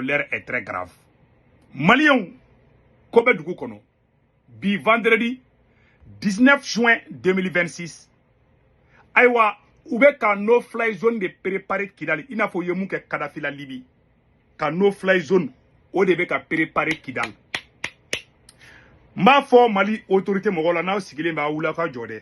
l'heure est très grave maliens ko bɛ dugu kɔnɔ bi vendredi 19 juin 2026 ayiwa u bɛ ka no fly zone de préparer kidali i n'a fɔ u ye mun kɛ kadafi la libi ka no fly zone o de bɛ ka préparer kidali n b'a fɔ mali autorité mɔgɔw la n'aw sigilen bɛ a wuli aw ka jɔ dɛ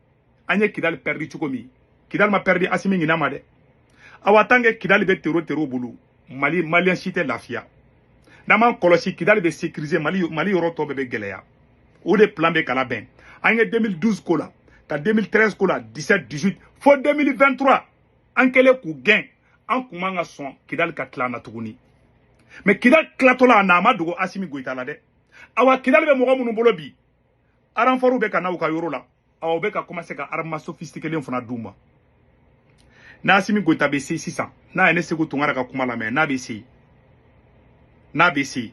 an ye kidali pɛridi cogo min kidali ma pɛridi asimi ɲinɛ ma dɛ awa tant que kidali bɛ tero tero bolo mali maliyɛn si tɛ lafiya n'an m'an kɔlɔsi kidali bɛ sekirize mali yɔrɔ tɔ bɛɛ bɛ gɛlɛya o de plan bɛ ka labɛn an ye 2012 ko la ka 2013 ko la 17 18 fo 2023 an kɛlen k'u gɛn an kun man ka sɔn kidali ka tila an na tuguni mais kidali tilatɔla an na a ma dogo asimi goyita la dɛ awa kidali bɛ mɔgɔ minnu bolo bi aranfɔriw bɛ ka na u ka yɔrɔ la awa u bɛ ka commencer ka arma sophistiquelen fana d'u ma n'asimi goyita bɛ se sisan n'a ye ne seku tunkara ka kuma lamɛn n'a bɛ se n'a bɛ se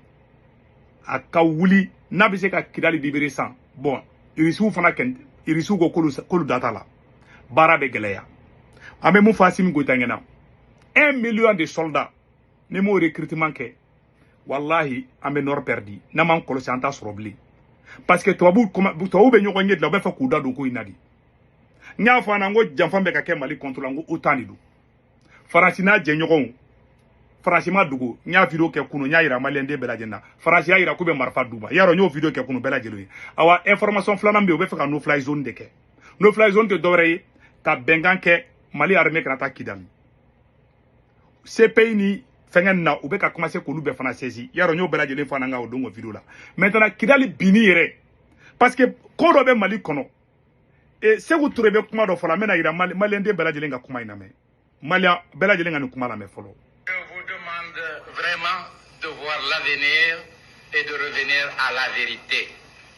a ka wuli n'a bɛ se ka kidali libérer sans bon irisiw fana kɛ irisiw ko k'olu da t'a la baara bɛ gɛlɛya an bɛ mun fɔ asimi goyita ɲɛna un million de soldats n'i m'o recrutement kɛ walahi an bɛ nɔrɔ pɛridi n'an m'an kɔlɔsi an t'a sɔrɔ bilen parce que tubabuw bɛ ɲɔgɔn ɲɛ dilan u bɛ fɛ k'u da don ko in na de n y'a fɔ an na n ko janfa bɛ ka kɛ mali kɔnto la n ko otan de don faransi n'a jɛɲɔgɔnw faransi ma dogo n y'a video kɛ kunu n y'a yira maliyɛnden bɛɛ lajɛlen na faransi y'a yira k'u bɛ marifa d'u ma y'a dɔn n y'o video kɛ kunu bɛɛ lajɛlen ye awa information filanan bɛ yen u bɛ fɛ ka no fly zone de kɛ no fly zone tɛ dɔwɛrɛ ye ka bɛnkan kɛ mali armée kana taa kidali CPI ni fɛngɛ nin na u bɛ ka commencer k'olu bɛɛ fana saisi y'a dɔn n y'o bɛɛ lajɛlen fɔ an na n ka o don o video la maintenant Kidali binni yɛrɛ parce que ko dɔ bɛ Mali kɔnɔ e Seku Ture bɛ kuma dɔ fɔ la n bɛn'a yira maliyɛn den bɛɛ lajɛlen ka kuma in lamɛn maliyɛn bɛɛ lajɛlen ka nin kuma lamɛn fɔlɔ. Je vous demande vraiment de voir l'avenir et de revenir à la vérité.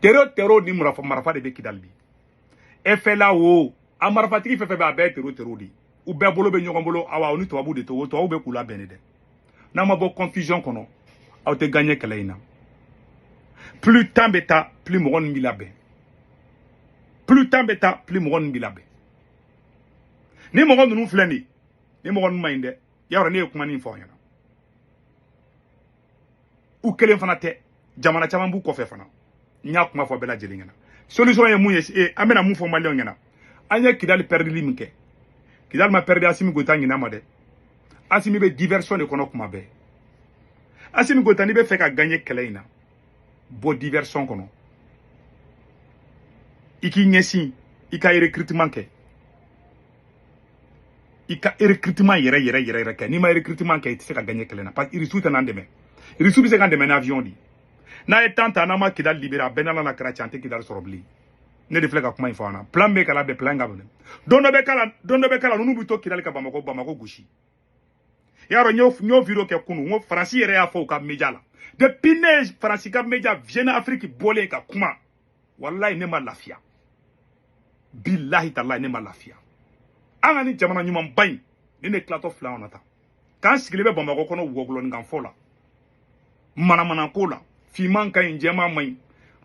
tero tero ni marafa de bɛ kidali bi FLA o a marafatigi fɛn fɛn bɛ a bɛɛ tero tero de u bɛɛ bolo bɛ ɲɔgɔn bolo awa u ni tubabu de don tubabu bɛ k'u labɛn de dɛ n'aw ma bɔ confusion kɔnɔ aw tɛ gaɲɛ kɛlɛ in na plus temps bɛ taa plus mɔgɔ ninnu b'i labɛn plus temps bɛ taa plus mɔgɔ ninnu b'i labɛn nin mɔgɔ ninnu filɛ nin ye nin mɔgɔ ninnu man ɲi dɛ y'a dɔn ne ye kuma nin fɔ aw ɲɛna u kelen fana tɛ jamana caman b'u kɔfɛ fana n y'a kuma fɔ bɛɛ lajɛlen ɲɛna solution ye mun ye e an bɛna mun fɔ maliyɛnw ɲɛna an ye kidali pɛridili min kɛ kidali ma pɛridi asimi goyita ɲina ma dɛ asimi bɛ diversion de kɔnɔ kuma bɛɛ asimi goyita n'i bɛ fɛ ka gaɲe kɛlɛ in na bɔ diversion kɔnɔ i k'i ɲɛsin i ka recrutement kɛ i ka recrutement yɛrɛ yɛrɛ yɛrɛ yɛrɛ kɛ n'i ma recrutement kɛ i tɛ se ka gagner kɛlɛ na parce que irisiw tɛ n'an dɛmɛ irisiw bɛ se k'an dɛmɛ ni avion de n'a ye temps ta n'an ma kidali libéré a bɛ n n'ala n'a kira cɛ an tɛ kidali sɔrɔ bilen ne de filɛ ka kuma in fɔ an na plan bɛ ka labɛn plan ka minɛ don dɔ bɛ kala don dɔ bɛ kala ninnu bɛ to kidali ka bamakɔ bamakɔ gosi i y'a dɔn n y'o n y'o video kɛ kunu n ko faransi yɛrɛ y'a fɔ u ka media la depuis ne ye faransi ka media jeune afrique bɔlen ka kuma wallahi ne ma lafiya billahi tallahi ne ma lafiya an ka nin jamana ɲuman ba in ni ne tilatɔ fila kɔnɔ tan k'an sigilen bɛ bamakɔ kɔnɔ wɔgulɔninkanfɔ la manamanako la finman ka ɲi jɛman man ɲi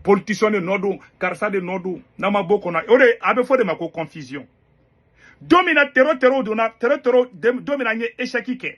politisiyɔn de nɔ don karisa de nɔ don n'a ma bɔ ko in na o de a bɛ fɔ o de ma ko confusion don min na tero tero donna tero tero don min na n ye échec kɛ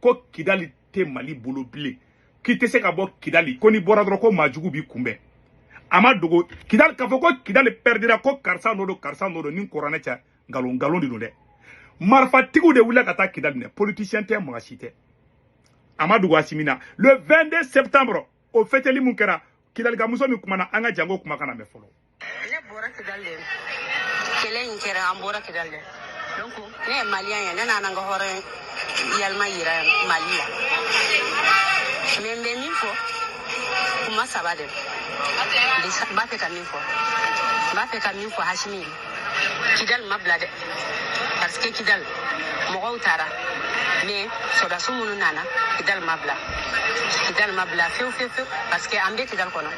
ko kidali tɛ mali bolo bilen k'i tɛ se ka bɔ kidali ko n'i bɔra dɔrɔn ko maajugu b'i kunbɛn a ma dogo kidali k'a fɔ ko kidali pɛridira ko karisa nɔ don karisa nɔ don n ni kɔranɛ cɛ nkalon nkalon de don dɛ marifatigiw de wulila ka taa kidali minɛ politisiyɛn tɛ mɔgɔ si tɛ a ma dogo asimi na le 22 septembre o fɛtɛli mun kɛra kidalika muso min kumana an ka jɛ k'o kumakan lamɛn fɔlɔ ne bɔra kidali de kɛlɛ in kɛra an bɔra kidali de donc ne ye maliyɛn ye ne nana n ka hɔrɔn yalima yira mali la mais n bɛ min fɔ kuma saba de n b'a fɛ ka min fɔ n b'a fɛ ka min fɔ asimi ye kidali ma bila dɛ parce que kidali mɔgɔw taara mais sɔrɔdasi minnu nana kidali ma bila kidali ma bila fewu fewu fewu parce que an bɛ kidali kɔnɔ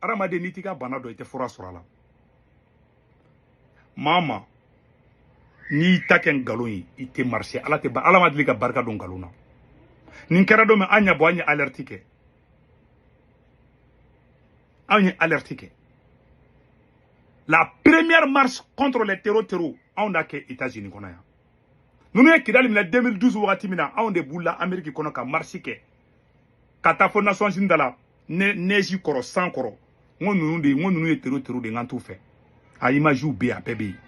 hadamaden n'i t'i ka bana dɔn i tɛ fura sɔrɔ a la maa ma n'i ta kɛ nkalon ye i tɛ marché ala tɛ ala ma deli ka barika don nkalon na nin kɛra don min an y'a bɔ an ye alɛriti kɛ anw ye alɛriti kɛ la première marche contre les tero tero anw d'a kɛ états-unis kɔnɔ yan ninnu ye kidali minɛ 2012 wagati min na anw de bɔla ameriki kɔnɔ ka marisi kɛ ka taa fo nations unies da la ne neji kɔrɔ san kɔrɔ n ko ninnu de n ko ninnu ye tero tero de n kan t'u fɛ a imaziw bɛ yen a bɛɛ bɛ yen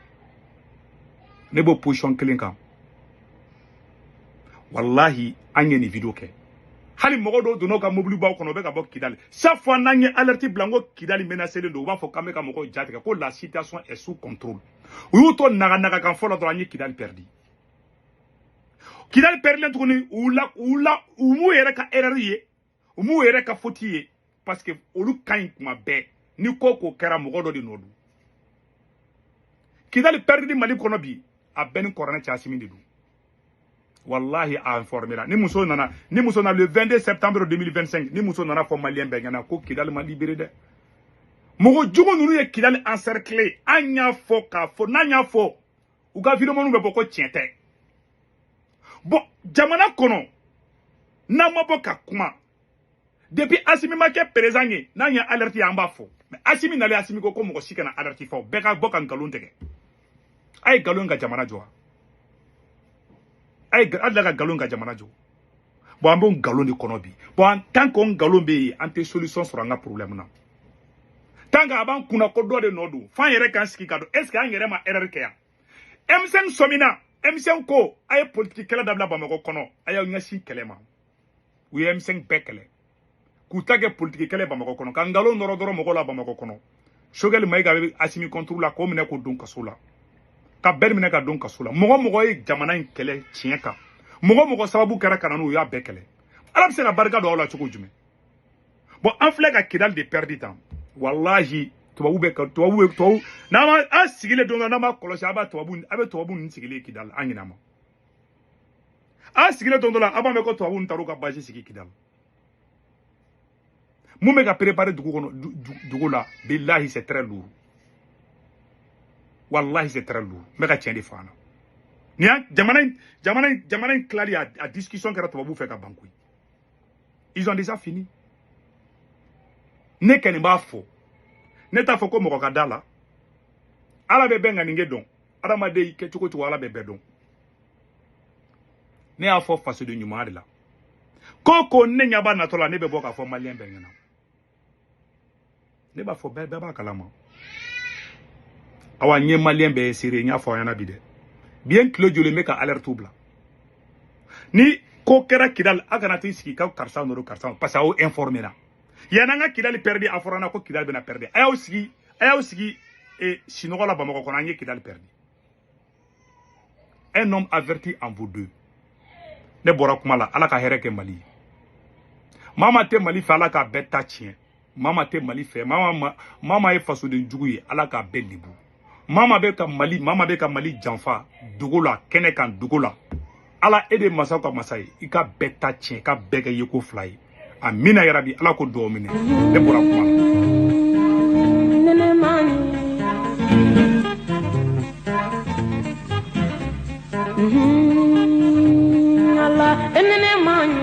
ne b'o pozisiyɔn kelen kan wallahi an ye nin video kɛ hali mɔgɔ dɔw donna u ka mobilibaw kɔnɔ u bɛ ka bɔ kidali chaque fois n'an ye alerte bila n ko kidali menacelen don u b'a fɔ k'an bɛ ka mɔgɔw jatigɛ ko la situation est sous contrôle u y'u to naganagakan fɔ la dɔrɔn an ye kidali pɛridi kidali pɛridilen tuguni u la u la u m'u yɛrɛ ka erreur ye u m'u yɛrɛ ka faute ye parce que olu ka ɲi kuma bɛɛ ni ko ko kɛra mɔgɔ dɔ de nɔ don kidali pɛridili mali kɔnɔ bi a bɛ n ni kɔranɛ cɛ asimi de don wallahi a informera nin muso nana nin muso nana le 22 septembre 2025 nin muso nana a fɔ maliyɛn bɛɛ ɲɛna ko kidali ma libere dɛ mɔgɔ jugu ninnu ye kidali encercler an y'a fɔ k'a fɔ n'an y'a fɔ u ka vidéomaniw bɛ bɔ ko tiɲɛ tɛ bon jamana kɔnɔ n'an ma bɔ ka kuma depuis asimi ma kɛ perezan ye n'an ye alɛriti ye an b'a fɔ mais asimi nalen asimi ko ko mɔgɔ si kana alɛriti fɔ bɛɛ ka bɔ ka nkalon tigɛ a ye nkalon ka jamana jɔ a ye a dila ka nkalon ka jamana jɔ bon an b'o nkalon de kɔnɔ bi bon an tant que o nkalon bɛ yen an tɛ solution sɔrɔ an ka problème na tant que a b'an kunna ko dɔ de nɔ don f'an yɛrɛ k'an sigi k'a dɔn est ce que an yɛrɛ ma erreur kɛ yan M5 sɔmina M5 ko a ye politiki kɛlɛ dabila bamakɔ kɔnɔ a y'aw ɲɛsin kɛlɛ ma u ye M5 bɛɛ kɛlɛ k'u ta kɛ politiki kɛlɛ bamakɔ kɔnɔ ka nkalon nɔrɔ dɔrɔn mɔgɔ la bamakɔ kɔnɔ sogɛli mayiga bɛ asimi kɔnturu la k'o minɛ k'o don kaso la ka bɛri minɛ k'a don kaso la mɔgɔ mɔgɔ ye jamana in kɛlɛ tiɲɛ kan mɔgɔ mɔgɔ sababu kɛra ka na n'u y'a bɛɛ kɛlɛ ala bɛ se ka barika don aw la cogo jumɛn bon an filɛ ka kidali de pɛridi tan walahi tubabu bɛ ka tubabu bɛ tubabu n'an ma an sigilen don n'an ma kɔlɔsi a b'a tubabu a bɛ tubabu ninnu sigilen kidali an ɲinɛ ma an sigilen don dɔ la an b'a mɛn ko tubabuw ni taar'u ka bazi sigi kidali mun bɛ ka préparer dugu kɔnɔ dogo la bilahi c'est très lourd walahi c'est très lourd n bɛ ka tiɲɛ de fɔ an na nin y'a jamana in jamana in jamana in tilali a, a discussion kɛra tubabuw fɛ ka ban koyi ils ont déjà fini ne kɔni b'a fɔ ne t'a fɔ ko mɔgɔ ka da a la ala bɛ bɛɛ ŋaniya dɔn adamaden y'i kɛ cogo cogo ala bɛ bɛɛ dɔn ne y'a fɔ fasoden ɲuman de la ko ko ne ɲɛ b'a natɔ la ne bɛ bɔ k'a fɔ maliyɛn bɛɛ ɲɛna ne b'a fɔ bɛɛ bɛɛ b'a kalama awa n ye maliyɛn bɛɛ ye seere n y'a fɔ aw ɲɛna bi dɛ bi ye n tile joli n bɛ ka alɛritiw bila ni ko kɛra kidali a kana t'i sigi ka karisa nɔ don karisa parce que aw informera yan'an ka kidali pɛridi a fɔra na ko kidali bɛna pɛridi a y'aw sigi a y'aw sigi e, sinɔgɔ la bamakɔ kɔnɔ an ye kidali pɛridi un homme averti en vaut deux ne bɔra kuma la ala ka hɛrɛ kɛ mali ye maa maa tɛ mali fɛ ala k'a bɛɛ ta tiɲɛ maa maa tɛ mali fɛ maa maa ye fasoden jugu ye ala k'a bɛɛ lebu maa maa bɛ ka mali maa maa bɛ ka mali janfa dogo la kɛnɛ kan dogo la ala e de masaw ka masa ye i ka bɛɛ ta tiɲɛ ka bɛɛ kɛ yeko fila ye amina yarabi ala k'o duwaw minɛ ne bɔra kuma la ala e ne ma ɲi